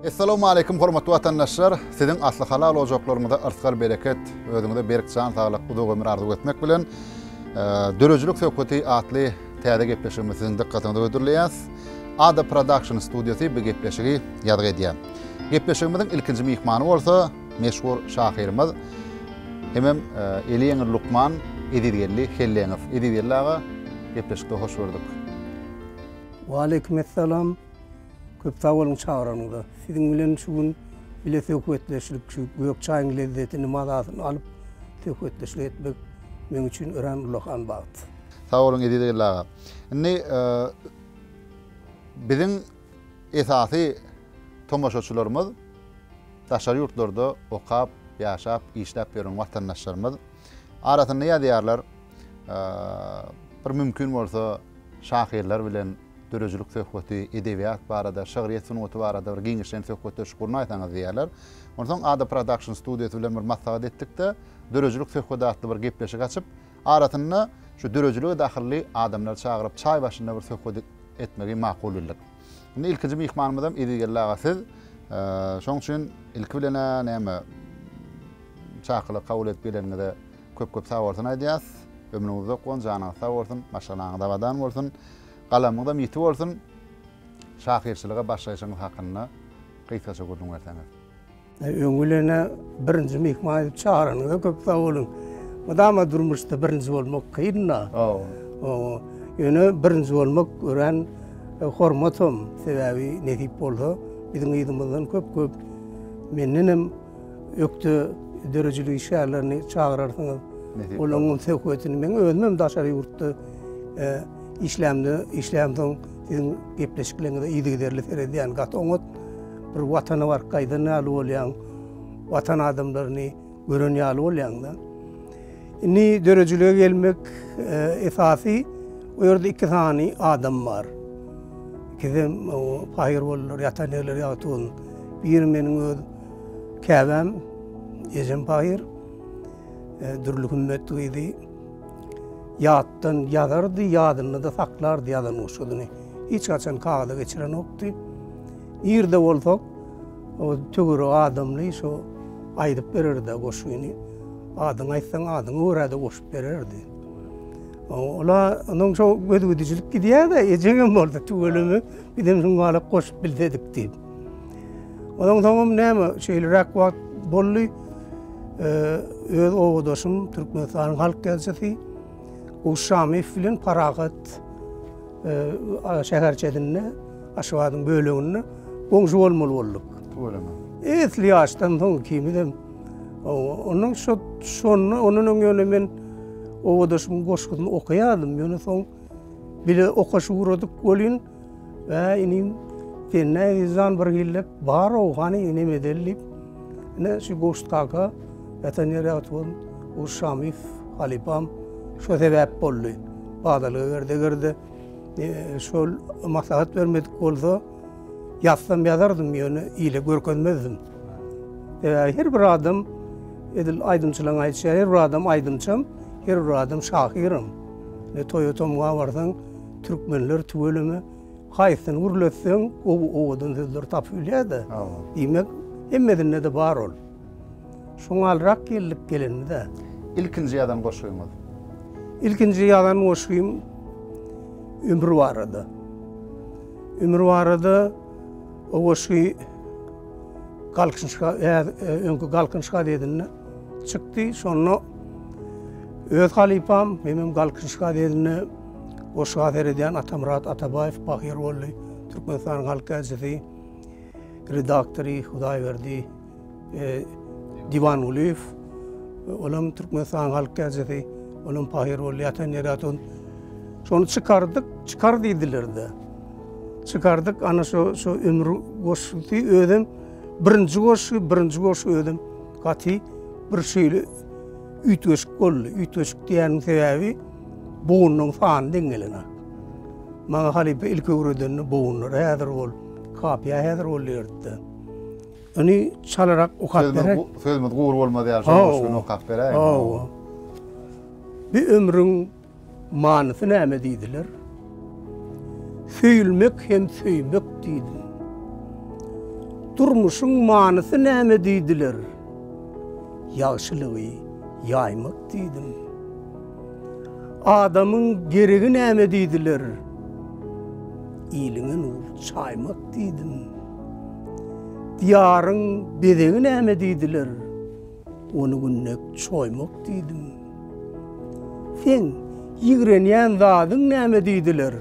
Essalamu aleykum hormatly watandaşlar. Siziň asly halal ojaklaryňyzda yrtgal bereket, özüňize berk jan saglyk, uzak ömür arzuw etmek bilen e, döredijilik söhbeti atly täze gepleşigimizi siziň dikkatiňize gödürleýäs. Ada Production studiýasy bu gepleşigi ýazgy edýär. Gepleşigimiziň ilkinji myhmany bolsa Meşhur şahyrymyz hemem eli ýeňil lukman Ezizgeldi Helleňow. Ezizgeldi aga, gepleşikde hoş gördük. Waleýkim essalam. Köp sag boluň çagyranyňyza. Siziň bilen şu gün bile söhbetleşdik. Şu gök çaýyň lezzetini, mazasyny alyp söhbetdeşlik etmek meň üçin örän ullakan bagt. Sag boluň Ezizgeldi aga. Indi biziň. Esasy tomaşaçylarymyz daşary ýurtlarda okap, ýaşap, işläp ýören watandaşlarymyz. Arasynda ýazýarlar, bir mümkin bolsa şahyrlar bilen döredijilik söhbeti, edebiýat barada, şygryýet sungaty barada bir giňişleýin söhbetdeşlik gurnaýsaňyz diýýärler. Onsoň Ada Production studiýasy bilen bir maslahat etdik-de, Döredijilik söhbedi atly bir gepleşik açyp, Arasynda şu döredilige dahylly adamlary çagyryp çaý başynda bir söhbet etmegi makul bildik. Indi ilkinji myhmanymyzam Ezizgeldi aga siz. Şoň üçin ilki bilen-ä näme çakylyk kabul edip geleniňize köp köp sag bolsun aýdýas. Ömrüňiz uzak bolsun, janyňyz sag bolsun, maşgalaňyz abadan bolsun. Galamyňyzam ýiti bolsun. Şahyrçylyga başlaýşyňyz hakynda gysgaça gürrüň berseňiz. Öň bilene birinji myhman edip çagyranyňyza köp sag boluň. Mydama durmuşda birinji bolmak kyn-da. Hawa. Ýöne birinji bolmak örän e, hormatam. Sebäbi nesip bolsa biziň yzymyzdan köp-köp menden hem ökde döredijilik işgärlerini çagyrarsyňyz. Olaryň söhbetini men özüm hem daşary ýurtda e, işlämde işlämsoň siziň gepleşiklerinize yzygiderli seredýän gaty oňat Bir watana baryp gaýdan ýaly bolýaň, watan adamlaryny gören ýaly bolýaň-da. Indi döredijilige gelmek esasy o ýerde iki sany adam bar. Ikisem paýyr boldular, ýatan ýerleri ýagty bolsun. Biri meniň öz käbäm, ejem paýyr, Dürli Hümmet gyzy. Ýatdan ýazardy, ýadynda-da saklardy ýazan goşgudyny. Hiç haçan kagyza geçirenokdy. Irde bolsak, o töwerek adamly şo aýdyp berer-de goşgyny. Adyňy aýtsaň, adyňa görä-de goşup bererdi. Ola onuň şo gözügidijilik gidýär-de, ejeňem bolsa tüweleme, bizem şuň galak goşup bilsedik diýip. Onuň soňam näme, şeýleräk wagt boldy. öz obadaşym Türkmenistanyň halk ýazyjysy Guşşamyýew bilen Parahat şäherçesinde Aşgabadyň böleginde goňşy bolmaly bolduk. Tüweleme. Esli ýaşdan soň ikimizem ondan şo şonda ondan öň ýöne men obadaşymyň goşgusyny okaýardym. Ýöne soň bile okaşy ugradyk welin, Äý, inim, sen nädip jan bir hillek bar-ow, hany inem edeli diýip, ine şu Gowşut kaka ýatan ýeri ýagty bolsun, Gowşut Şamyýew halypam şo sebäp boldy. Badalga berdi. Eger-de e, şol maslahat bermedik bolsa ýazsam ýazardym ýöne ile görkezmezdim. E, her bir adam edil aýdymçylaryň aýtýan her bir adam aýdymçym, her bir adam şahyrym. Ne toýa tomga barsaň türkmenler tüweleme haýsyny gürletseň owadan sözler tapyp bilýär-de. Diýmek, hemmesinde de bar ol. Şoňalrak geldik gelenimize. Ilkinji ýazan goşgyňyz? Ilkinji ýazan goşgym Ömür barada. Ömür barada o goşgy Galkynyş öňki Galkynyş gazetinde çykdy. Şonda öz halypam Memem Galkynyş gazetinde goşgy azer edýän Atamyrat Atabaýew Bahyr boldy. Türkmenistanyň halk äjisi, redaktory Hudaýberdi Diwan Gulyýew, olam Türkmenistanyň halk täjisi, olam paýhar boldy, ýatan ýeri ýatan. Şony çykardyk, çykar diýdiler-de. Çykardyk, ana şu şu ömür goşgusy özem birinji goşgy, birinji goşgy özem gaty bir şeýle üýtgeşik boldy. Üýtgeşik diýýäniň sebäbi bugundan sany deň geleni. Maňa halypa ilki öwredende bugunlar häzir bol, kapyýa häzir bol diýerdi-de. Öni çalarak okap berek. Sözümüz gury bolmaz ýaly şonuň üçin okap beräýiň. Hawa. Bu ömrüň manysy näme diýdiler? Söýülmek hem söýmek diýdi. Durmuşyň manysy näme diýdiler? Ýagşylygy ýaýmak diýdim. Adamyň geregi näme diýdiler? Iliňe nur çaýmak diýdim. Diýaryň bezegi näme diýdiler, Ony günde çoýmak diýdim. Seň ýigrenýän zadyň näme diýdiler,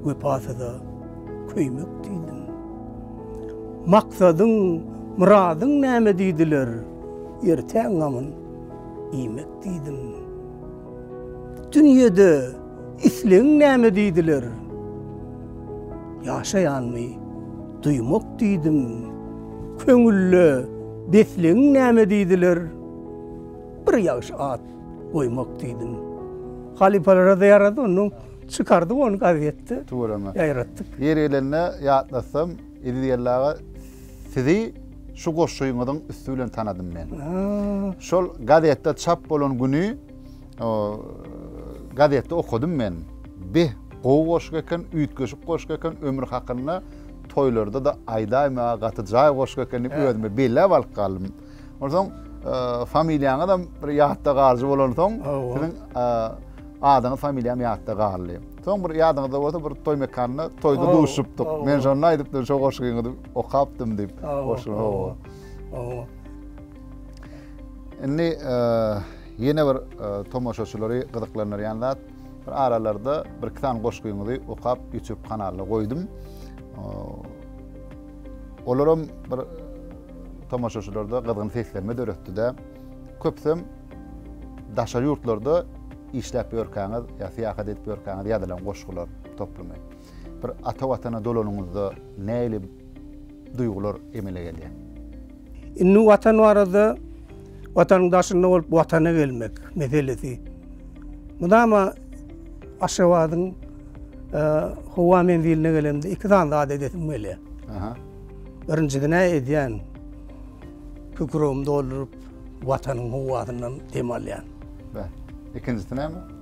Wepasyza köýmek diýdim. Maksadyň, myradyň näme diýdiler, Ertäň gamyn iýmek diýdim. Dünýede. Islegiň näme diýdiler? Ýaşaýanmy? Duýmak diýdim. Köňülde beslegiň näme diýdiler? Bir ýagşy at goýmak diýdim. Halypalara-da ýarady, ondan çykardyk ony gazetde. Tüweleme. Ýaýratdyk. Ýeri gelende ýatlatsam, Eziz geldi aga, sizi şu goşgyňyzyň üsti bilen tanadym men. Şol gazetde çap bolan güni O gazetde okadym men. Beh, gowy goşgy eken, üýtgeşik goşgy eken, ömür hakynda toýlarda-da aýdaýmaga gaty jaý goşgy eken diýip özüme belläp alyp galdym. Onsoň familiýaňyzam bir ýatda galyjy bolansoň, siziň adyňyz, familiýam ýatda galdy. Soň bir ýadyňyzda bolsa bir toý mekanynda toýda duşupdyk. Men şonda aýdypdym, şo goşgyňyzy okapdym diýip. Goşgy, hawa. Indi ýene bir tomaşaçylary gyzyklandyrýan zat, bir aralarda bir iki sany goşgyňyzy okap YouTube kanalda goýdum. Olaram bir tomaşaçylarda gyzgyn seslenme döretdi-de, köpsem daşary ýurtlarda işläp ýörkäňiz ýa syýahat edip ýörkäňiz ýazylan goşgular toplumy. Bir ata watana dolanyňyzda näili duýgular emele gelýär. Indi Watan barada, Watanyň daşynda bolup Watana gelmek meselesi mydama Aşgabadyň howa menziline gelemde iki sany zat edesim gelýär. Aha. Birinjisi näme edýän? Kükregimi dolduryp Watanyň howasyndan dem alýan. Bä. Ikinjisi näme?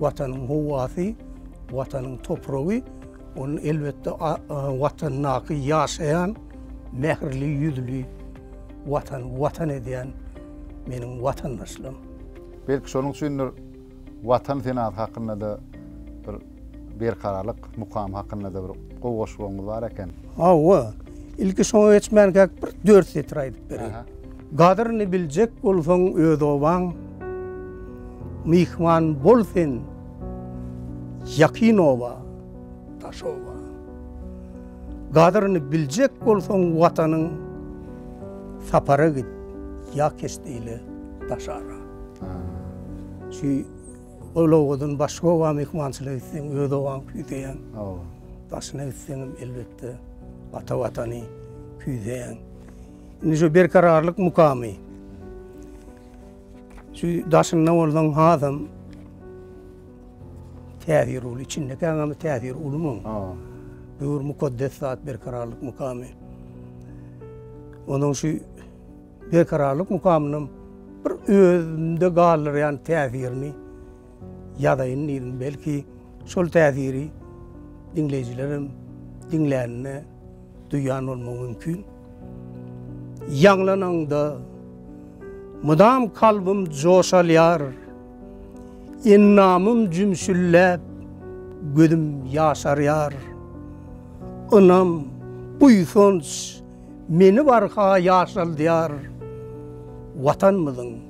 Watanyň howasy, Watanyň topragy, ol elbetde Watandaky ýaşaýan mähirli ýüzli Watany Watan edýän meniň watandaşlarym. Belki şonuň üçindir Watan senasy hakynda-da bir Berkararlyk mukamy hakynda-da bir gowy goşgumyz bar eken. Hawa, ilki şoňa geçmänkäk bir dört setir aýdyp bereýin. Gadyryny biljek bolsaň öz obaň, Myhman bol sen ýakyn oba, daş oba. Gadyryny biljek bolsaň Watanyň, Sapara git ýa keşde ile daşara. Şu ol obadan başga oba myhmançylyga gitseň öz obaňy küýseýäň. Daşyna gitseňem elbetde ata Watany küýseýäň. Indi şu berkararlyk mukamy. Şu daşynda bolsaň hazam täsir uly, içindeki agamy täsir uly mu? Büyür mukaddes zat berkararlyk mukamy. Onun şu berkararlyk mukamynam bir özünde galdyrýan täsirini ýazaýyn diýdim. Belki, şol täsiri diňleýjilerem diňläninde duýan bolmagy mümkin. Ýaňlananda mydam kalbym joş alýar, endamym jümşülläp, gözüm ýaşarýar. Ynam, buýsanç meni barha ýaşaldýar. Watanymyzyň.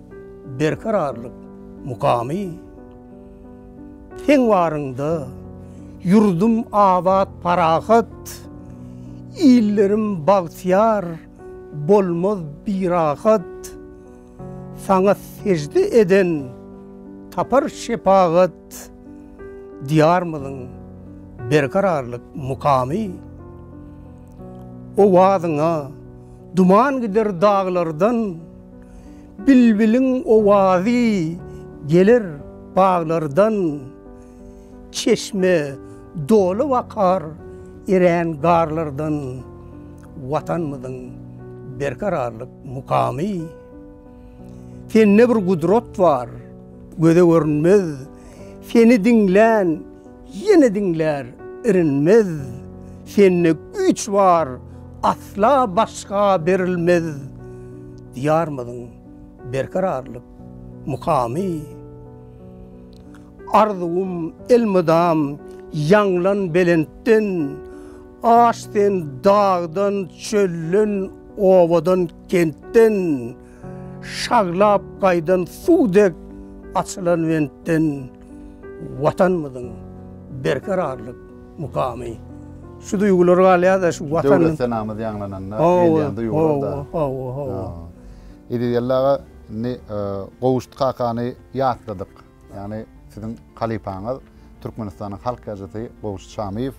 Berkararlyk mukamy Seň baryňda ýurdum abat parahat Illerim bagtyýar bolmaz birahat Saňa sejde eden tapar şepagat Diýarymyzyň Berkararlyk mukamy Owazyňa duman gider daglardan. Bilbiliň owazy geler baglardan, Çeşme dolup akar erän garlardan. Watanymyzyň berkararlyk mukamy. Sende bir gudrat bar, göze görünmez, Seni diňlän Ýene diňlär irinmez, Sende güýç bar, asla başga berilmez. Diýarymyzyň berkararlyk mukamy Arzuwym elmydam ýaňlan belentden, Aş sen dagdan, çölden, obadan, kentden, Şaglap gaýdan suw dek açylan bentden. Watanymyzyň berkararlyk mukamy şu duýgular galýar-da, şu Watan. Döwlet senamyz ýaňlananda gelýän duýgular-da. Hawa, hawa. Eziz-Geldi aga, indi Gowşut kakany ýatladyk. Ýagny siziň halypaňyz, Türkmenistanyň halk ýazyjysy Gowşut Şamyýew.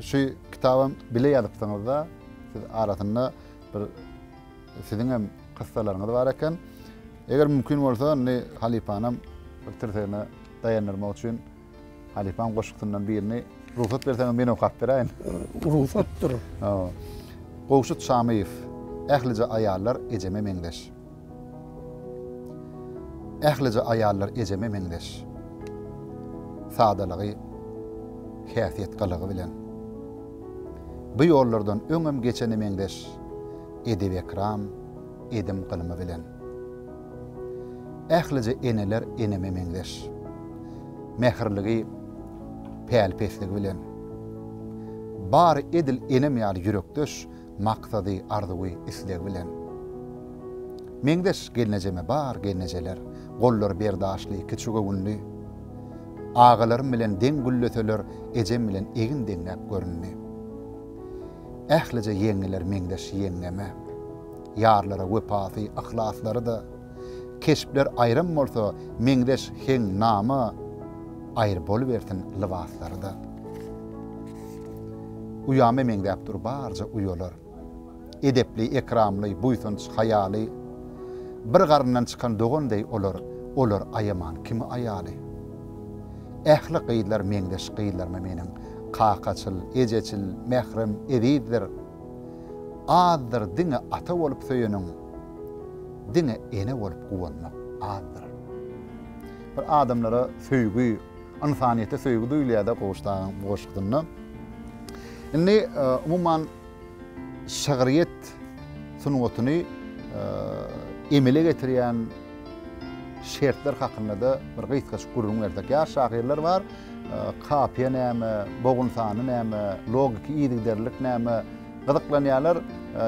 Şu kitabam bile ýazypsyňyz-da, siz arasynda bir siziňem kyssalaryňyz bar eken. Eger mümkin bolsa, indi halypanam bir tirsegine daýandyrmak üçin halypaň goşgusyndan birini rugsat berseňiz men okap beräýin. Rugsatdyr. Hawa. Gowşut Şamyýew, Ählije aýallar ejeme meňzeş. Ählije aýallar ejeme meňzeş. Sadalygy, häsiýet gylygy bilen. Bu ýollardan öňem geçene meňzeş. Edep-ekram, edim-gylymy bilen. Ählije eneler eneme meňzeş. Mähirligi, päli-pesligi bilen. Bary edil enem ýaly ýürekdeş, maksady, arzuwy, islegi bilen. Meňzeş gelnejeme bar gelnejeler, gollary berdaşly, kiçigöwünli. Agalarym bilen deň gülleseler, ejem bilen egin deňläp göründi. Ählije ýeňňeler meňzeş ýeňňeme. Ýarlara wepasy, yhlaslary-da, Keşpler aýram bolsa, meňzeş heňňama, Aýry bolubersin lybaslary-da. Uýama meňzäp dur barja uýalar, Edepli, ekramly, buýsanç, haýaly. Bir garyndan çykan dogan deý olar, Olar aýaman kimi aýaly. Ähli gyzlar meňzeş gyzlarmy meniň? Kakaçyl, ejeçil, mährem, ezizdir. Azdyr diňe ata bolup söýeniň, diňe ene bolup guwanmak azdyr. Bir adamlara söýgi, ynsanyýete söýgi duýulýar-da Gowuş dagyň goşgusynda. Indi, umuman, şygryýet sungatyny emele getirýän şertler hakynda-da bir gysgaçyk gürrüň bersek. Ýaş şahyrlar bar, kapiýa näme, bogun sany näme, logiki yzygiderlilik näme, gyzyklanýarlar.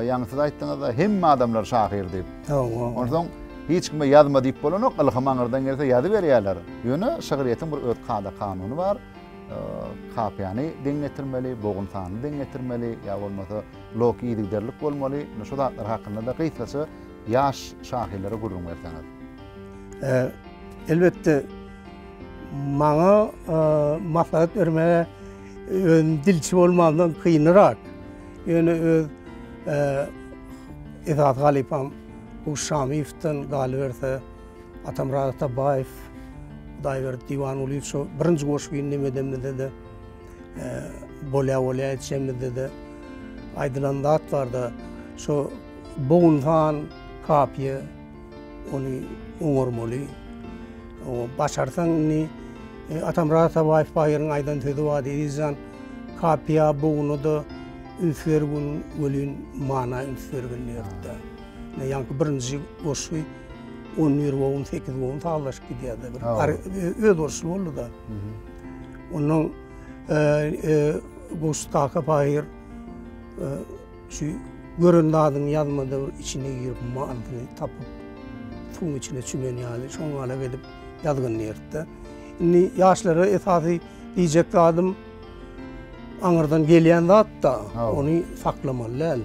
Ýaňy siz aýtdyňyz-da, hemme adamlar şahyr diýip. Hawa. Onsoň hiç kime ýazma diýip bolanok, ylham aňyrdan gelse ýazyberýärler. Ýöne şygryýetiň bir öz kada-kanuny bar. Kapiýany deň getirmeli, bogun sanyny deň getirmeli, ýa bolmasa lok yzygiderlik bolmaly. Indi şu zatlar hakynda-da gysgaça ýaş şahyrlara gürrüň berseňiz. Elbetde, maňa maslahat bermäge özüm dilçi bolmamdan kynyrak. Ýöne öz esasy halypam Guş Şamyýewden galyberse, Atamyrat Atabaýew, Hudaýberdi Diwangulyýew şo birinji goşgyny neme edemizde-de, bolýa-bolýa etjemizde-de aýdylan zat bar-da, şo bogunhan kapiýa, ony oňarmaly. O, başarsaň indi, Atamyrat Atabaýew baýyryň aýdan sözi bardy, Eziz jan, kapiýa, boguna-da üns bergin welin, mana üns bergin diýerdi-de. Ýaňky birinji goşgy on bir bogun, sekiz bogun sazlaşyp gidýärdi. Öz urşuly boldy-da. Onuň goşgy Kaka Paýyr şu gören zadyny ýazmada bir içine girip manysyny tapyp, suwuň içine çümen ýaly şoňňalak edip ýazgyn diýerdi-de. Indi ýaşlara esasy diýjek zadym, Aňyrdan gelýän zat-da, ony saklamaly däl.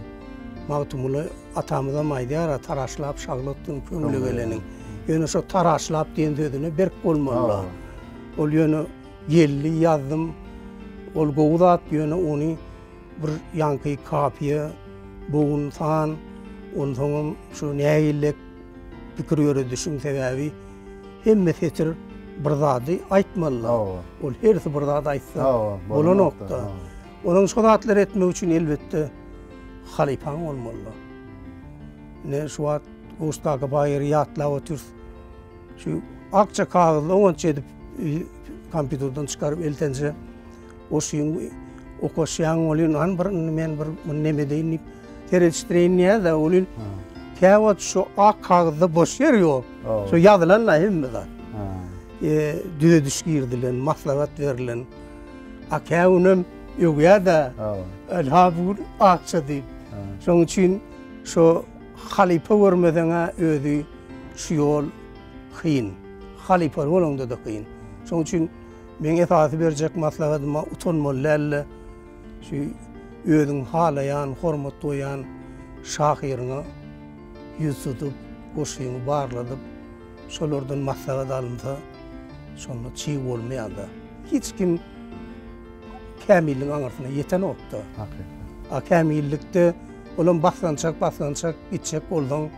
Magtymguly atamyzam aýdýar-a, Taraşlap şaglatdym köňle geleniň. Ýöne şo taraşlap diýen sözüne berk bolmaly-da. Ol ýöne geldi, ýazdym. Ol gowy zat, ýöne ony bir ýaňky kafiýa, bogun san, onsoňam şu nägillek pikir ýöredişiň sebäbi Hemme setir bir zady aýtmaly. Ol hersi bir zat aýtsa bolanokda. Onuň şo zatlary etmek üçin elbetde halypaň bolmaly. Ne şu wagt Guşdaky baýyry ýatlap otyrys. Şu akja kagyzda oňat edip kompýuterden çykaryp eltenje Oşin okaşýaň welin an bir indi men bir muny neme edeýin diýip seredişdireýin diýýär-de welin käwagt şu ak kagyzda boş ýer ýok. Şu ýazylan-da hemme zat. Düzediş girizilen, maslahat berlen. A kägünem öwýär-de ylha bu gün akja diýip. Şonuň üçin şu halypa görmeseň-ä özi şu ýol kyn. Halypaly bolaňda-da kyn. Şonuň üçin Meň esasy berjek maslahatyma utanmaly däl-de, şu özüň halaýan, hormat goýýan şahyryňa ýüz tutup, goşgyňy barladyp, şolardan maslahat alynsa, şonda çig bolmaýar-da. Hiç kim kämilligiň aňyrsyna ýetenok-da. Hakykat. A kämillikde olam basgançak-basgançak gitjek bolsaň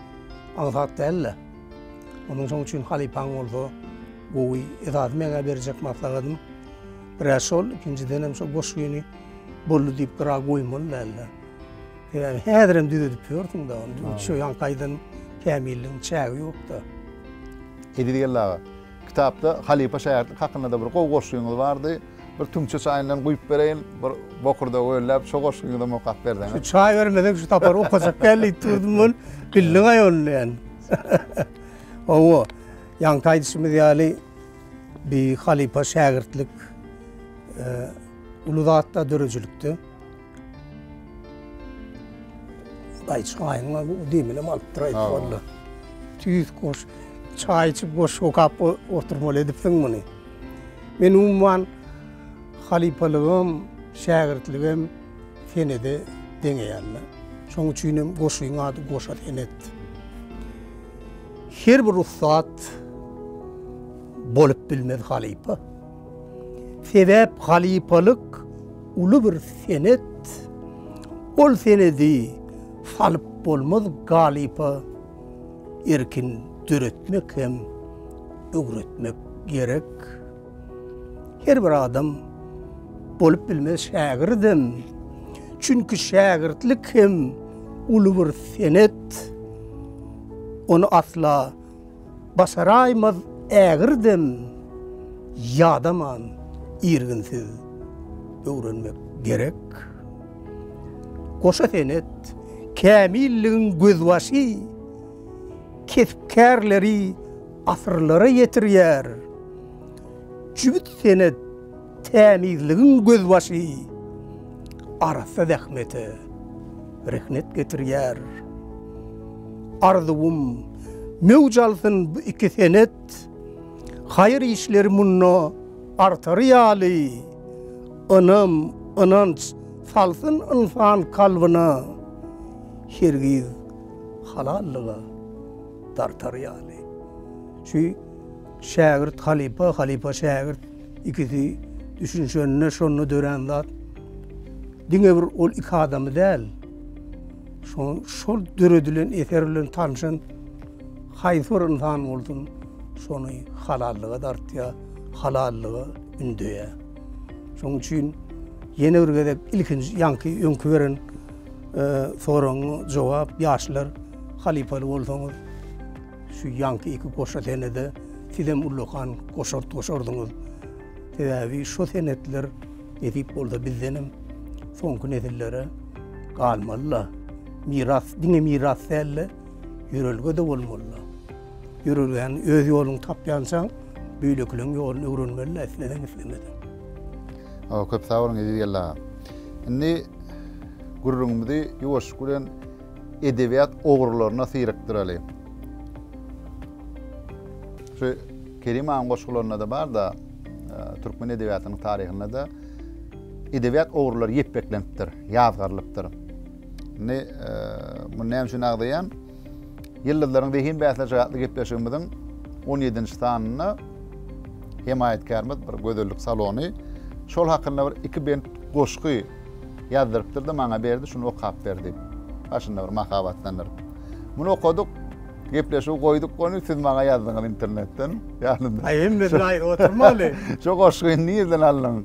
aňsat däl-de. Onuň şoň üçin halypaň bolsa gowy. Esasy meňä berjek maslahatym birä şol, ikinjidenem şo goşgyny boldy diýip gyra goýmaly däldir. Sebäbi häzirem düzedip ýörsüň-de ony. Şu ýaňky aýdan kämilligiň çägi ýok-da. Eziz geldi aga. Kitapda halypa şägirtlik hakynda-da bir gowy goşgyňyz bardy. Bir tüňçe çaýyndan guýup bereýin, bir bokurda wellap şo goşgyňyzam okap berseňiz. Şu çaý bermesek şu sapar okajak däl diýip durdum men. Bildiňaý ony ýaly. Hawa, ýaňky aýdyşymyz ýaly bi halypa şägirtlik uly zatda döredijilikde. Daýy çaýyňa bu deminem alyp duraýyp walla. Tüýs goş, çaý içip goş okap oturmaly edipsiň muny. Men umuman halypalygam, şägirtligem senede deňeýän. Şoň üçinem goşyň ady Goşa senet. Her bir ussat bolup bilmez halypa. Sebäp halypalyk uly bir senet. Ol senedi salyp bolmaz galypa. Erkin döretmek hem öwretmek gerek. Her bir adam bolup bilmez şägirdem. Çünki şägirtlik hem uly bir senet. Ony asla Basaraýmaz ägir dem ýadaman irginsiz öwrenmek gerek. Goşa senet, kämilligiň gözbaşy, kesp-kärleri asyrlara ýetirýär. Jübüt senet. Tämizligiň gözbaşy arassa zähmete rehnet getirýär. Arzuwym, möwç alsyn bu iki senet, haýyr işleri munda artary ýaly, ynam, ynanç salsyn ynsan kalbyna, hergiz halallyga dartar ýaly. Şu. Şägirt halypa, halypa şägirt ikisi düşünişende şonda dörän zat diňe bir ol iki adamy däl, şol döredilen eser bilen tanşan haýsy bir ynsan bolsun şony halallyga dartýar, halallyga ündeýär. Şonuň üçin ýene bir gezek ilkinji ýaňky öňki beren soragyňa jogap ýaşlar halypaly bolsaňyz, Şu ýaňky iki goşa senede sizem ullakan goşart goşardyňyz. Sebäbi şo senetler nesip bolsa bizdenem soňky nesillere galmaly-la. Miras diňe miras däl-de, ýörelge-de bolmaly-la. Ýörelgäň öz ýoluny tapýançaň, beýlekileň ýoluny öwrenmeli-la, isleseň-islemeseň. Köp sag boluň Eziz geldi aga. Indi gürrüňimizi ýuwaşlyk bilen edebiýat ogrularyna syrykdyraly. Şu Kerim agyň goşgularynda-da bar-da, e, türkmen edebiýatynyň taryhynda-da edebiýat ogrulary ýepbeklenipdir, ýazgarylypdyr. Indi e, muny näme üçin agzaýan? Ýyldyzlaryň zehin bäsleşigi atly gepleşigimiziň 17-nji sanynda hemaýatkärimiz bir gözellik salony şol hakynda bir iki bent goşgy Ýazdyrypdyr-da, maňa berdi, şuny okap ber diýip, başynda bir mahabatlandyryp. Muny okadyk, gepleşigi goýduk goni, siz maňa ýazdyňyz internetden, ýadymda. Aý, hemme jaý oturmaly. Şo goşgy nirden alnyň?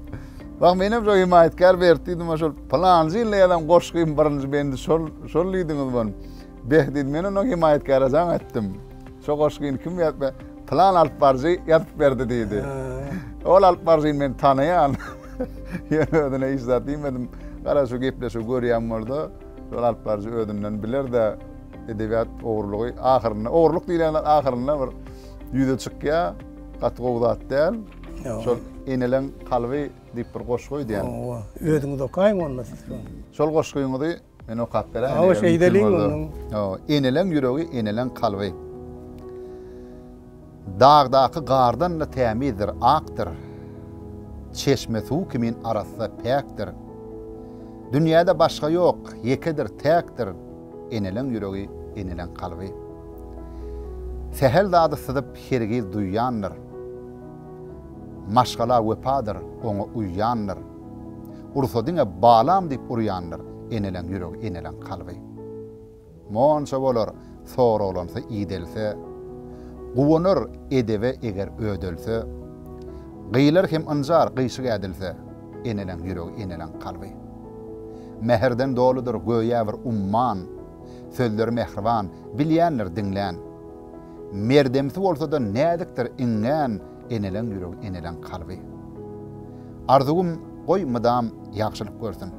Wah, menem şo hemaýatkär berdi diýdim, şol pylanjy ýylda ýazan goşgym birinji bendi şol, şol diýdiňiz muny. Beh, diýdi, men onuň hemaýatkäre jaň etdim. Şo goşgyny kim ýazdy? Plan alyp baryjy ýazyp berdi diýdi. Ol alyp baryjyny men tanaýan. Ýöne özüne hiç zat diýmedim. Gara şu gepleşigi görýän bolsa, şol alyp baryjy özünden biler-de, edebiýat ogurlygy ahyrynda, ogurlyk diýlen zat ahyrynda bir ýüze çykýar. Gaty gowy zat däl. Şol Eneleň kalby diýip bir goşgy öýdýän. Özüňiz okaýyň onda siz. Şol goşgyňyzy Men okap beräýin. Hawa, şeýdeliň onuň. Hawa, eneleň ýüregi, eneleň kalby. Dagdaky gardan-da tämizdir, akdyr. Çeşme suw kimin arassa, päkdir. Dünýäde başga ýok, ýekedir, täkdir. Eneleň ýüregi, eneleň kalby. Sähel zady syzyp, hergiz duýýandyr. Maşgala wepadyr, oňa uýýandyr. Ursa diňe balam diýip urýandyr Eneleň ýüregi eneleň kalby Monça bolar soraglansa idelse Guwanar edebe eger ödelse Gyýlar hem ynjar gyýşyk ädilse Eneleň ýüregi eneleň kalby Mähirden doludyr göýä bir umman Sözleri mähriban bilýändir diňlän Merdemsi bolsada näzikdir iňňän Eneleň ýüregi eneleň kalby. Arzuwym goý mydam ýagşylyk görsün.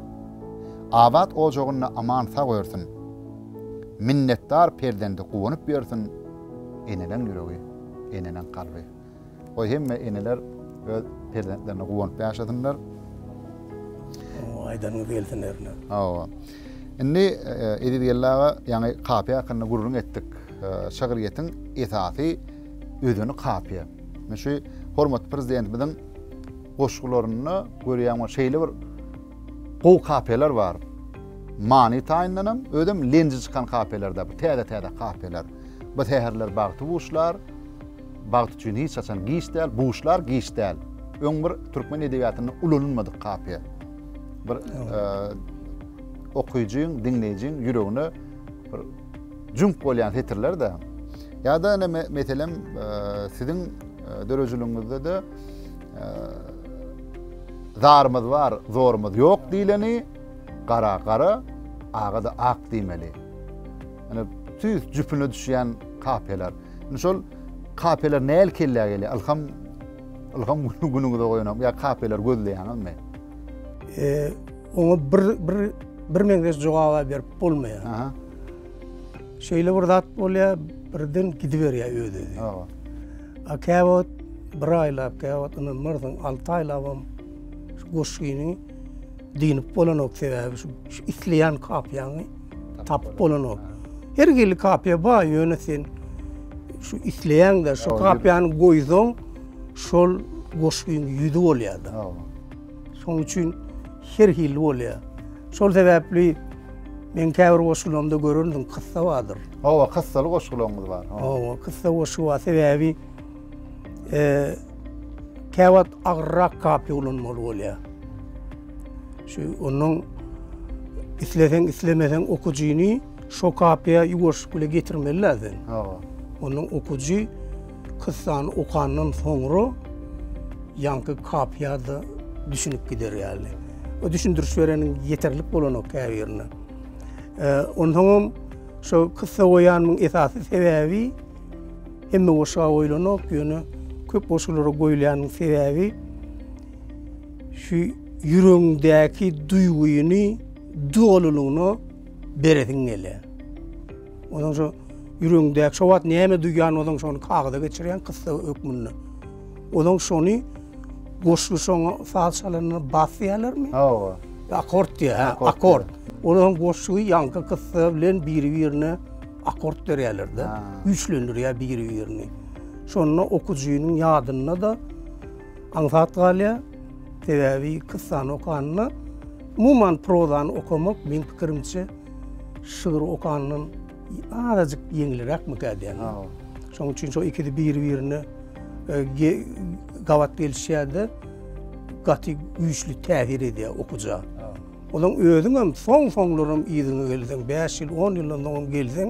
Abat ojagynda aman sag örsün. Minnetdar perzendi guwanyp ýörsün. Eneleň ýüregi eneleň kalby. Goý hemme eneler öz perzentlerine guwanyp ýaşasynlar. Hawa aýdanyňyz gelsin erne. Hawa. Indi Eziz geldi aga ýaňy Kapy hakynda gürrüň etdik. Şygryýetiň esasy Özüni kapyýar. Men şu hormatly Prezidentimiziň goşgularynda görýäňmi, şeýle bir gowy kapyýalar bar. Many taýyndanam, özem lenji çykan kapyýalar-da, bu täze-täze kapyýalar. Bu säherler bagty buşlar, bagt üçin hiç haçan giç däl, buşlar giç däl. Öň bir türkmen edebiýatynda ulanylmadyk kapyýa. Bir okyjyň, diňleýjiň ýüregine bir Jüňk bolýan setirler-de. Ýa-da ine meselem siziň döredijiligiňizde-de zarymyz bar, zorumyz ýok diýleni gara gara, aga-da ak diýmeli. Ine tüýs jüpüne düşýän kapiýalar. Ine şol kapiýalar näl kellä gelýär? Ylham ylham günüňize goýanok ýa kapiýalar gözleýäňizmi? Oňa bir bir bir meňzeş jogaba berip bolmaýar. Aha. Şeýle bir zat bolýar, birden gidiberýär özi. Hawa. A käwagt bir aýlap, käwagt ynanmarsyň, 6 aýlap hem şu goşgyny dinip bolanok sebäbi şu, şu isleýän kapyýany tapyp bolanok. Her hili kapyýa bar, ýöne sen şu isleýäňde şu kapyýany goýsaň, şol goşgyň ýüzi bolýar-da. Hawa. Şonuň üçin her hili bolýar. Şol sebäpli meň käbir goşgularymda görersiň kyssa bardyr. Hawa, kyssaly goşgularyňyz bar. Hawa, kyssa goşgy bar. Sebäbi käwagt agyrrak kapiýa ulanmaly bolýar. Şu onuň isleseň islemeseň okyjyny şo kapiýa ýuwaşlyk bilen getirmeli-de sen. Hawa. Onuň okyjy Kyssany okandan soňra ýaňky kapyýa-da düşünip gider ýaly. O düşündiriş bereniň ýeterlik bolanok käbirine. Onsoňam şo kyssa goýanymyň esasy sebäbi hemme goşga goýlanok, ýöne köp goşgulara goýulýanyň sebäbi şu ýüregiňdäki duýgyny dolylygyna beresiň gelýär. Ozaň şu ýüregiňdäki şu wagt näme duýýan ozaň şony kagyza geçirýän kyssa hökmünde. Ozaň şony goşgy şoňa saz çalanda bas diýerlermi? Hawa. Akord diýär, ha, akord. Ozaň goşgy ýaňky kyssa bilen biri-birine akord berýärler-de, güýçlendirýär biri-birini. Şonda okyjynyň ýadynda-da aňsat galýar. Sebäbi kyssany okanda umuman prozany okamak meň pikirimçe Şygyr okandan azajyk ýeňliräkmikä diýen. Şonuň üçin şo ikisi biri-birine e, gabat gelişýärdi. Gaty güýçli täsir edýär okuja. Olaň özüň hem soň-soňlaram ýüzüňe gelseň, 5 ýyl, 10 ýyldan soň gelseň,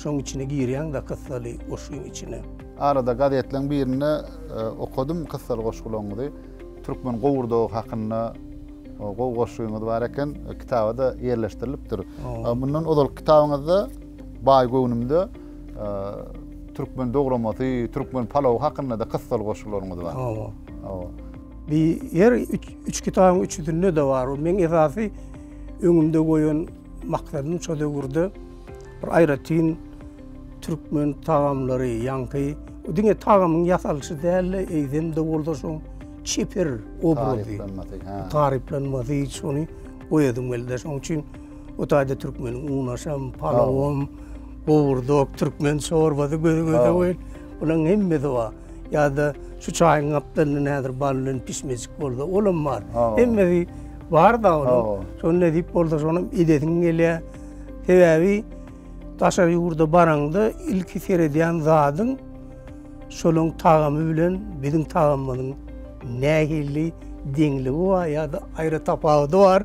şoň içine girýäň da kyssaly goşgyň içine. Arada gazetleň birinde e, okadym kyssaly goşgularyňyzy. Türkmen gowurdagy hakynda gowy goşgyňyz bar eken. Kitaba-da ýerleşdirilipdir. Mundan ozalky kitabyňyzda Baý göwnümde türkmen dogramasy, türkmen palawy hakynda-da kyssaly goşgularyňyz bar. Hawa. Hawa. Bi ýer üç kitabyň üçüsinde-de bar. Meň esasy öňümde goýan maksadym şo döwürde Bir aýratyn türkmen tagamlary, ýaňky diňe tagamyň ýasalyşy däl-de, eýsem-de bolsa şoň çeper obrazy, taryplanmasy şony goýasyň geldi. Şoň üçin o taýda türkmeniň unaşam, palawam, gowurdok, türkmen çorbasy göz-göze goýun. Bularyň hemmesi bar. Ýa-da şu çaýyň gapdalynda näzir bal bilen pişmejik bolsa, olam bar. Hemmesi bar-da onuň. Şony nädip bolsa şonam edesiň gelýär. Sebäbi daşary ýurda baraňda ilki seredýän zadyň şolaryň tagamy bilen biziň tagamymyzyň nähili deňligi bar ýa-da aýra tapawudy bar.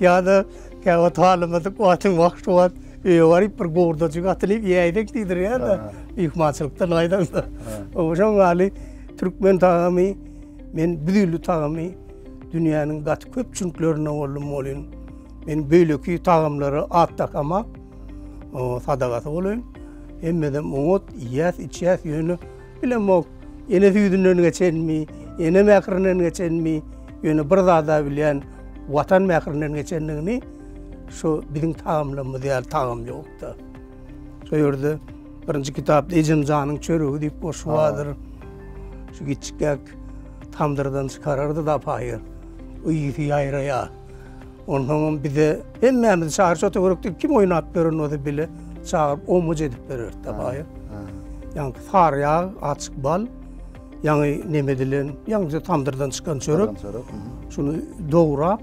Ýa-da käwagt halamadyk wagtyň wagşy wagt öýe baryp bir gowurdajyk atylyp ýäýsek diýdirýär-de myhmançylykdan gaýdaňda. Şoň ýaly türkmen tagamy men bu dilli tagamy dünýäniň gaty köpçüliklerinde boldum welin, Men beýleki tagamlara at dakamak, sadagasy bolaýyn. Hemmedem oňat iýýäs, içýäs, ýöne bilemok, ene süýdünden geçenmi, ene mährinden geçenmi, ýöne bir zada bilýän, Watan mährinden geçendigini, şu biziň tagamlarymyz ýaly tagam ýokda. Şo ýerde birinji kitapda Ejemjanyň çöregi diýip goşgy bardyr. Şu giçikgäk tamdyrdan çykarardy-da apaýy, yýsy ýaýraýar. Onsoňam bize hemmämizi çagyr şota görek diýip kim oýnap beren bolsa bile çagyryp omuc edip bererdi da baýa. Ýaňky sary ýag, açyk bal, ýaňy neme edilen, ýaňky tamdyrdan çykan çörek. Şuny dograp,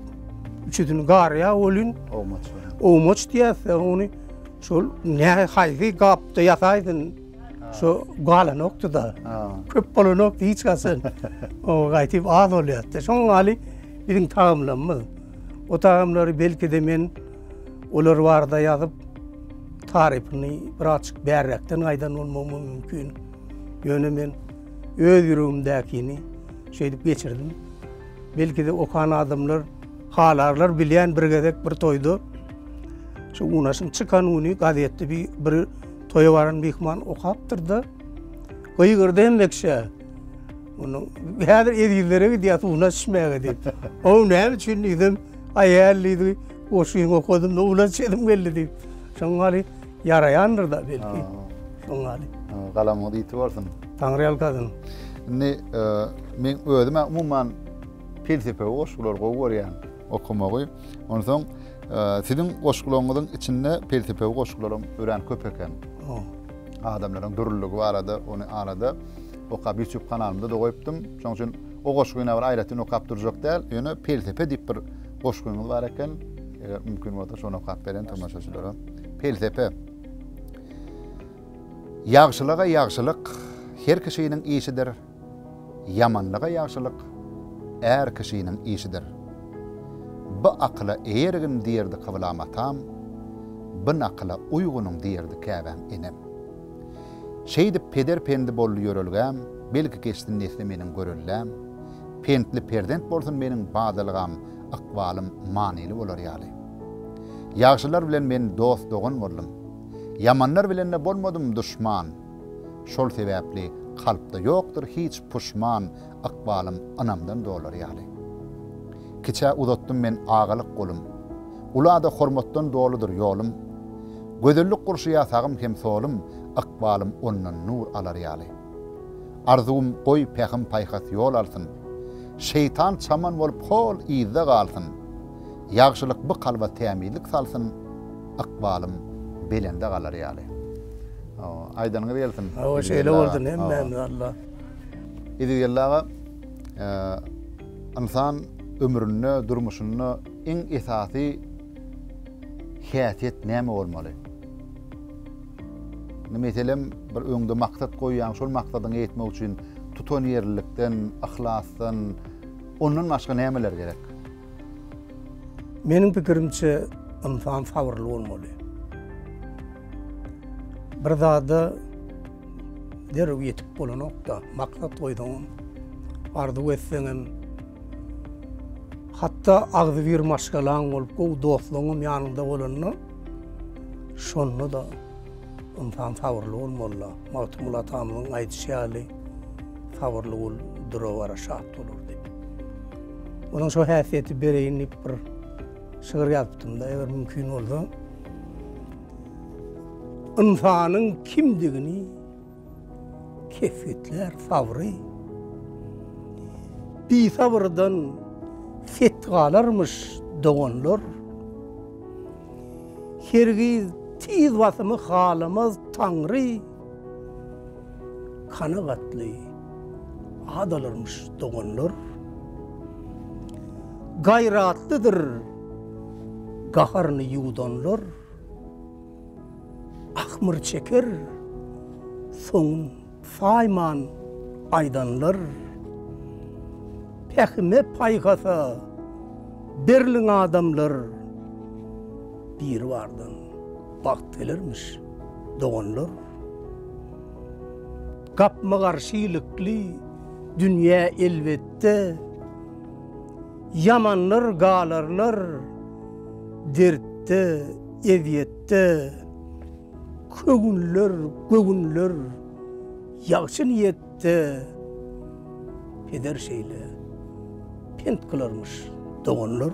üçüsini gar ýag bolýun. Omuc. Omuc diýýärdi ony. Şol näme haýsy gapda ýasaýdyn. Şu galanokdy-da. Köp bolanokdy hiç haçan. O gaýtyp az bolýardy. Şoň ýaly biziň tagamlarymyz. O tagamlary belki-de men olar barada ýazyp, tarypyny birazjyk bärräkden aýdan bolmagym mümkin. Ýöne men öz ýüregimdäkini şeýdip geçirdim. Belki-de okan adamlar halarlar bilýän bir gezek bir toýda şu unaşyň çykan güni gazetde bir Toýa baran myhman okapdyr-da, gygyrdy hem bekşä. Munuň häzir ezizlere gidýär suwuny içmäge diýip. O näme üçin diýdim, aýal diýdi, goşgyňy okadym, suwuny içesim geldi diýip. Şoň ýaly ýaraýandyr-da belki. Şoň ýaly. Galamyňyz ýiti bolsun. Taňryýalkasyn. Indi men özüm-ä umuman pelsepewi goşgulary gowy görýän. okamagy. Onsoň siziň goşgularyňyzyň içinde pelsepewi goşgularyň örän köp eken. Adamlaryň dürlüligi barada, ony arada okap YouTube kanalymda da goýupdym. Şonuň üçin o goşgyny bir aýratyn okap durjak däl, ýöne pelsepe diýip bir goşgyňyz bar eken. Eger mümkin bolsa şony okap beren tomaşaçylara. Pelsepe. Ýagşylyga ýagşylyk her kişiniň işidir. Ýamanlyga ýagşylyk är kişiniň işidir. By akyla eýergin diýerdi kyblam atam, by nakyla uýgunyň diýerdi käbäm enem. Şeýdip peder pendi boldy ýörelgäm, belki geçsin nesli meniň görelläm, pentli perzent bolsun meniň badalgam, ykbalym manyly bolar ýaly. Ýagşylar bilen men dost-dogan boldum. Ýamanlar bilen-de bolmadym duşman. Şol sebäpli kalpda ýokdur hiç puşman Ykbalym ynamdan dolar ýaly. Kiçä uzatdym men agalyk golum, Ula-da hormatdan doludyr ýolum. Gözellik gurşaýar sagym hem solum, Ykbalym ondan nur alar ýaly. Arzuwym goý pähim-paýhas ýol alsyn, Şeýtan çaman bolup hol yzda galsyn. Ýagşylyk by kalba tämizlik salsyn. ykbalym belende galar ýaly. Hawa, aýdanyňyz gelsin. Hawa, şeýle boldy, hemmämiz Alla. Yzygeldi aga, ynsan ömründe, durmuşynda iň esasy häsiýet näme bolmaly? Indi meselem, bir öňde maksat goýýaň, şol maksadyňa ýetmek üçin tutanýerlilikden, yhlasdan, ondan başga nämeler gerek? Meniň pikirimçe, ynsan sabyrly bolmaly. Bir zada derrew ýetip bolanok-da, maksat goýsaňam, arzuw etseňem, hatda agzybir maşgalaň bolup, gowy dostlaryňam ýanyňda bolanda, şonda-da ynsan sabyrly bolmaly-da. Magtymguly atamyzyň aýdyşy ýaly, Sabyrly bol, dura-bara şat bolar diýip. Onuň şo häsiýeti bereýin diýip bir şygyr ýazypdym-da, eger mümkin bolsa. Ynsanyň kimdigini kesgitlär sabry. Bisabyrdan set galarmyş doganlar. Hergiz tiz basymy halamaz Taňry. Kanagatly adalarmyş doganlar. Gaýratlydyr gaharyny ýuwdanlar. Ahmyr çeker soňun saýman aýdanlar. Pähime paýhasa berliň adamlar. Biribardan. Wagt gelermiş, doganlar. Gapma-garşy ilikli dünýä elbetde, Ýamanlar galarlar dertde, ezýetde. Köwünler, göwünler ýagşy niýetde, Peder şeýle pent kylarmyş, doganlar.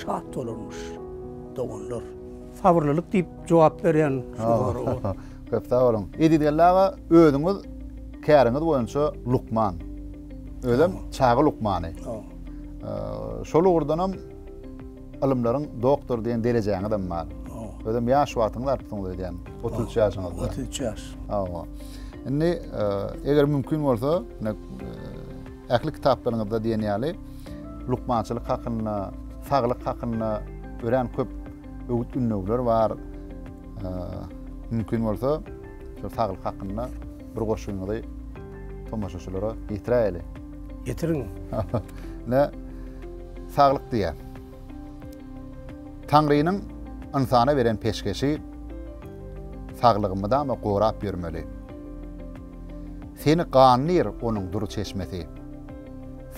Şat bolarmyş doganlar. Sabyrlylyk diýip jogap berýän şu soraga. Köp sag boluň. Edilgeldi aga özüňiz käriňiz boýunça lukman. Özem çaga lukmany. Şol ugurdanam ylymlaryň doktory diýen derejäňizem bar. Özem ýaş wagtyňyz artdyňyz öýdýän. 33 ýaşyňyzda. 33 ýaş. Hawa. Indi eger mümkin bolsa, Ähli kitaplaryňyzda diýen ýaly lukmançylyk hakynda, saglyk hakynda örän köp öwüt-ündewler bar. Mümkin bolsa, şol saglyk hakynda bir goşgyňyzy tomaşaçylara ýetiräýeli. Ýetiriň. Ine, saglyk diýýär. Taňrynyň ynsana beren peşgeşi, saglygy mydama gorap ýörmeli. Seni gandyr onuň dur çeşmesi.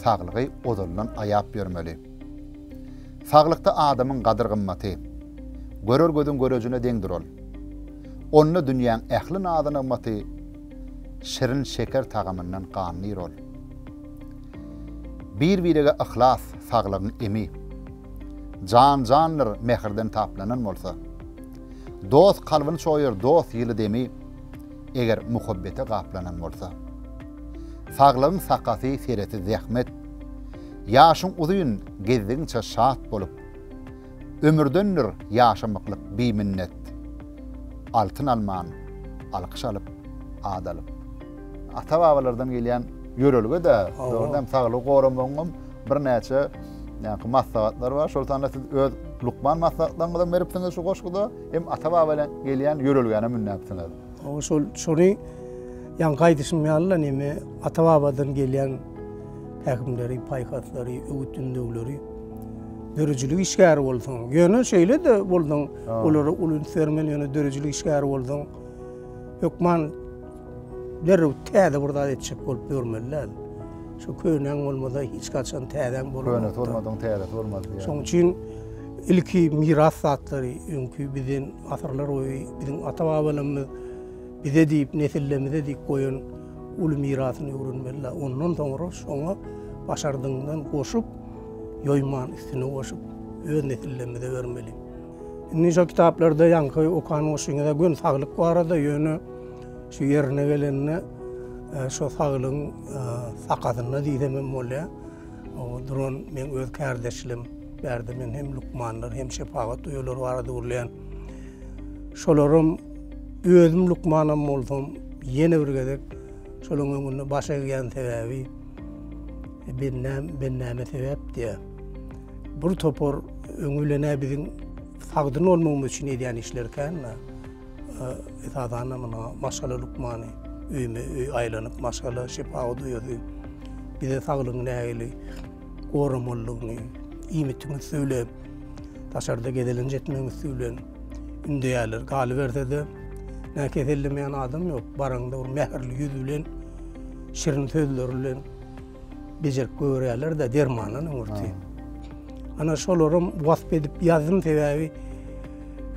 Saglygy ozaldan aýap ýörmeli. Saglykda adamyň gadyr-gymmaty. Görer gözüň görejine deňdir ol. Onda dünýäň ähli nazy-nygmaty. Şirin şeker tagamyndan gandyr ol. Bir-birege yhlas, saglygyň emi. Jan jandyr mähirden taplanan bolsa. Dost kalbyny çoýar, dost ýyly demi. eger muhabbete gaplanan bolsa. Saglygyň sakasy sereti zähmet, Ýaşyň uzyn, gezdigiňçe şat bolup. Ömürdendir ýaşamyklyk biminnet, Altyn alman, alkyş alyp, at alyp. Ata-babalardan gelýän ýörelge-dä, dogrudan hem saglygy goramagyň hem birnäçe maslahatlary bar. Şol sanda siz öz lukman maslahatlaryňyzy hem beripsiňiz şu goşguda. Hem ata-babadan gelýän ýörelgäne münnäpsiňiz. Oňa şol, şony ýaňky aýdyşym ýaly-la neme, ata-babadan gelýän pähimleri, paýhaslary, öwüt-ündewleri, döredijilik işgäri bolsaň, ýöne şeýle-de bolsaň, olara uly üns bermeli, ýöne döredijilik işgäri bolsaň, hökman, Derrew täze bir zat etjek bolup ýörmeli däl. Şu könäň bolmasa hiç haçan täzäň bolmaz. Könesi bolmadyň täzesi bolmaz diýýär. Şoň üçin ilki miras zatlary, öňki bizden asyrlar boýy biziň ata-babalarymyz bize diýip, nesillerimize diýip goýan uly mirasyny öwrenmeli däl. Ondan soňra şoňa başardygyňdan goşup, ýoýman üstüne goşup öz nesillerimize bermeli. Indi şo kitaplarda ýaňky okan goşuňyza gün saglyk barada, ýöne şu ýerine gelende e, şo saglygyň e, sakasynda diýsem hem bolýar. O duran men öz kärdeşlerim, bärde men hem lukmanlar, hem şepagat öýeleri barada gürleýän. Şolaram özüm lukmanam bolsam, ýene bir gezek şolaryň öňünde baş egýän sebäbi e, ben näme sebäp diýär. Bul topar öňi bilen-ä biziň sagdyn bolmagymyz üçin edýän işleri kän-ä. Esasan-da muna maşgala lukmany, öýme-öý aýlanyp, maşgala şepagat uýasy bize saglygyňy nähili goramalydygyny, iýmitiň üsti bilen, daşarda gezelenç etmegiň üsti bilen ündeýärler. Galyberse-de, nä kesellemeýän adam ýok. Baraňda bir mähirli ýüz bilen, şirin sözleri bilen, Bejerip görýärler de dermandan öňürti. Ana şolaram wasp edip ýazdym sebäbi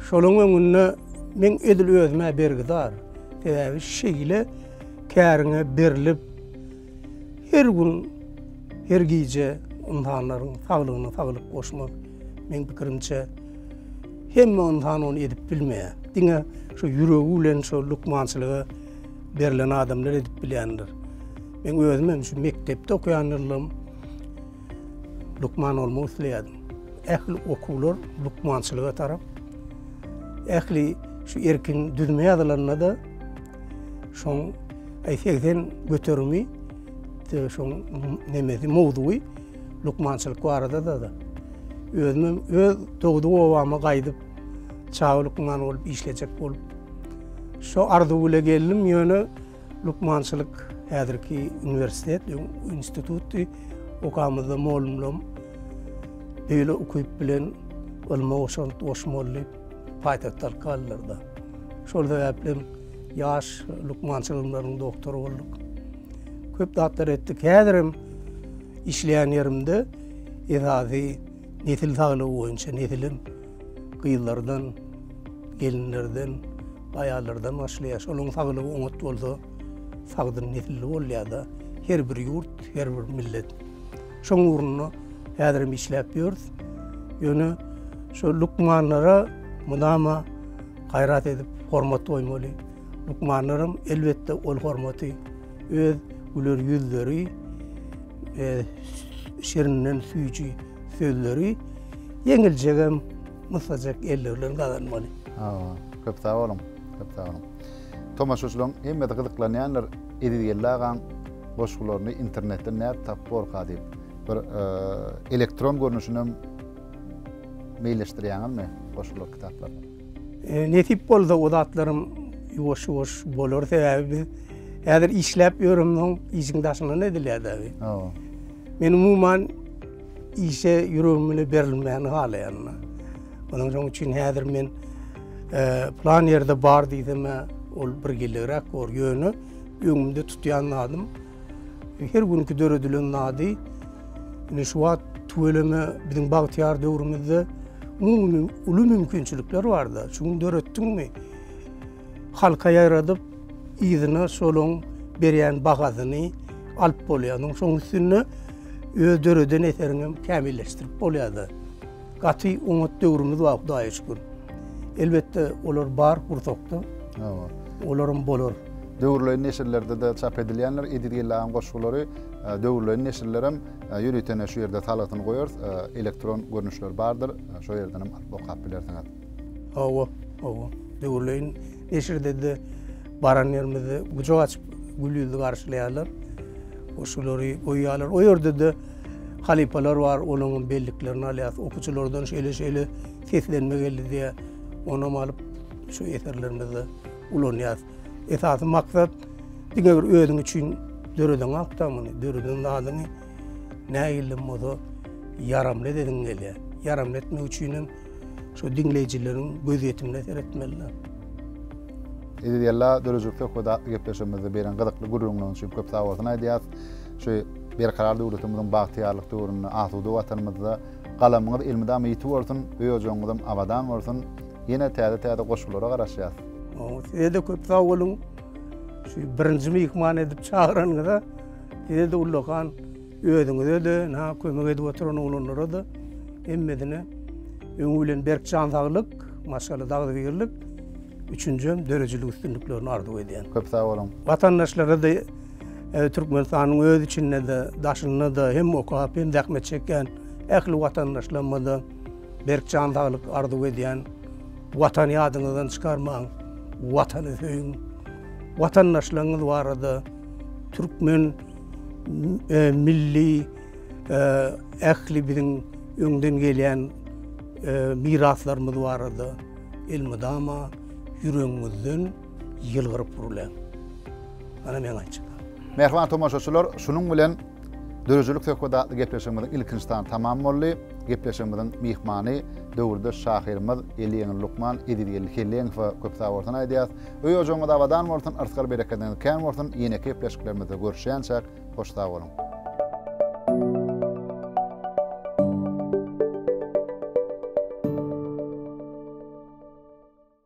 şolaryň öňünde men edil özüme bergidar. Sebäbi şeýle käriňe berilip her gün her gije ynsanlaryň saglygyna saglyk goşmak meň pikirimçe hemme ynsan ony edip bilmeýär. Diňe şu ýüregi bilen şu lukmançylyga berilen adamlar edip bilýändir. Men özüm hem şu mekdepde okuyan ýyllym lukman olmak isleýärdim. Ähli okuwlar lukmançylyga tarap. Ähli şu erkin düzme ýazylanda da şoň aý 80 göterimi şoň nemesi mowzugy lukmançylyk barada da da. Özüm hem öz dogduk obama gaýdyp çawa lukman bolup işlejek bolup. Şu arzuw ile geldim ýöne Lukmançylyk häzirki uniwersitet, öň institutdy. Okamyzda molumlam beýle ukyp bilen ylma goşant goşmaly diýip, paýtagta alyp galdylar-da. Şol sebäplem ýaş lukmançy ylymlarynyň doktory bolduk. Köp zatlar etdik. Häzirem işleýän ýerimde esasy nesil saglygy boýunça, nesilem, gyzlardan, gelinlerden, aýallardan başlaýar. Şolaryň saglygy oňat bolsa, sagdyn nesilli bolýar-da. Her bir ýurt, her bir millet. Şoň ugrunda häzir hem işläp ýörüs. Ýöne şu lukmanlara mydama gaýrat edip, hormat goýmaly. Lukmanlaram, elbetde, ol hormaty öz güler ýüzleri, şirinden süýji sözleri, Ýeňiljegem mysajak elli bilen gazanmaly. Hawa, köp sag boluň, köp sag boluň. Tomaşaçylaryň hemmesi gyzyklanýandyr, Eziz Geldi agaň goşgularyny internetden nädip tapyp borka diýip. Bir elektron görnüşinem meýilleşdirýäňizmi goşgular kitaplary? Nesip bolsa o zatlarym ýuwaş-ýuwaş bolar, sebäbi biz häzir işläp ýöremzok, işiň daşyndan edilýär-de. Men umuman Işe ýüregim bile berilmän halaýanda. Onuň şoň üçin häzir men plan ýerde bar diýsem, ol bir gilligräk bor. Ýöne öňümde tutýan zadym her günki döredilen zady indi şu wagt tüweleme biziň bagtyýar döwrümizde umumy uly mümkinçilikler bar-da. Şu gün döretdiňmi? Halka ýaradyp, yzyna şolaň berýän bahasyny alyp bolýarsyň. Şoň üstünde öz döreden eseriňi hem kämilleşdirip bolýar-da. Gaty oňat döwrümiz bar, Hudaýa şükür. Elbetde, olar bar gursakda. Hawa. Olar hem bolar. Döwürleýin neşirlerde-de çap edilýändir. Ediz geldi agaň goşgulary döwürleýin neşirler hem ýörite ine şu ýerde salgysyny goýarys. Elektron görnüşleri bardyr. Şo ýerden hem alyp okap bilersiňiz. Hawa, hawa. Döwürleýin neşirde-de, baran ýerimizde gujak açyp gül ýüzli garşylaýarlar. Goşgulary goýýarlar. O ýerde-de halypalar bar, olaryň belliklerini alýas. Okuwçylardan şeýle-şeýle seslenme geldi diýýär. Onam alyp, şu eserlerimizde ulanýas. Esasy maksat diňe bir özüň üçin döredeňok-da muny, döreden zadyňy. Nägillim bolsa ýaramly edesiň gelýär. Ýaramly etmek üçinem şu diňleýjileriň gözýetimine seretmeliler. Eziz Ýella döredijilik söhbedi atly gepleşigimizde beren gyzykly gürrüňiňiz üçin köp sag bolsun aýdýas. Şu Berkarar döwletimiziň bagtyýarlyk döwründe asuda Watanymyzda galamyňyz elmydama ýiti bolsun, öý-ojagyňyzam abadan bolsun. Ýene täze-täze goşgulara garaşýas. Size-de köp sag boluň. Şu birinji myhman edip çagyranyňyza. Size-de ullakan, özüňize-de, ynha, kömek edip oturan oglanlara-da hemmesine öňi bilen berk jan saglyk, maşgala dagdygirlik, üçünjem döredijilik üstünliklerini arzuw edýän. Köp sag boluň. Watandaşlara-da Türkmenistanyň öz içinde-de, daşynda-da hem okap, hem zähmet çekýän ähli watandaşlarymyza-da berk jan saglyk arzuw edýän. Watany ýadyňyzdan çykarmaň, Watany söýüň. Watandaşlaryňyz barada, Türkmen milli ähli biziň öňden gelýän miraslarymyz barada elmydama ýüregiňizden ýylgyryp gürläň. Mana meň aýtjaklarym. Mähriban tomaşaçylar, şunuň bilen Döredijilik söhbedi atly gepleşigimiziň ilkinji sany tamam boldy. Gepleşigimiziň myhmany, döwürdeş şahyrymyz, Eliýeňli lukman Ezizgeldi Helleňowa köp sag bolsun aýdýarys. Öý ojagyňyz abadan bolsun yrsgal berekediňiz kän bolsun ýeneki gepleşiklerimizde görüşýänçäk hoş sag boluň.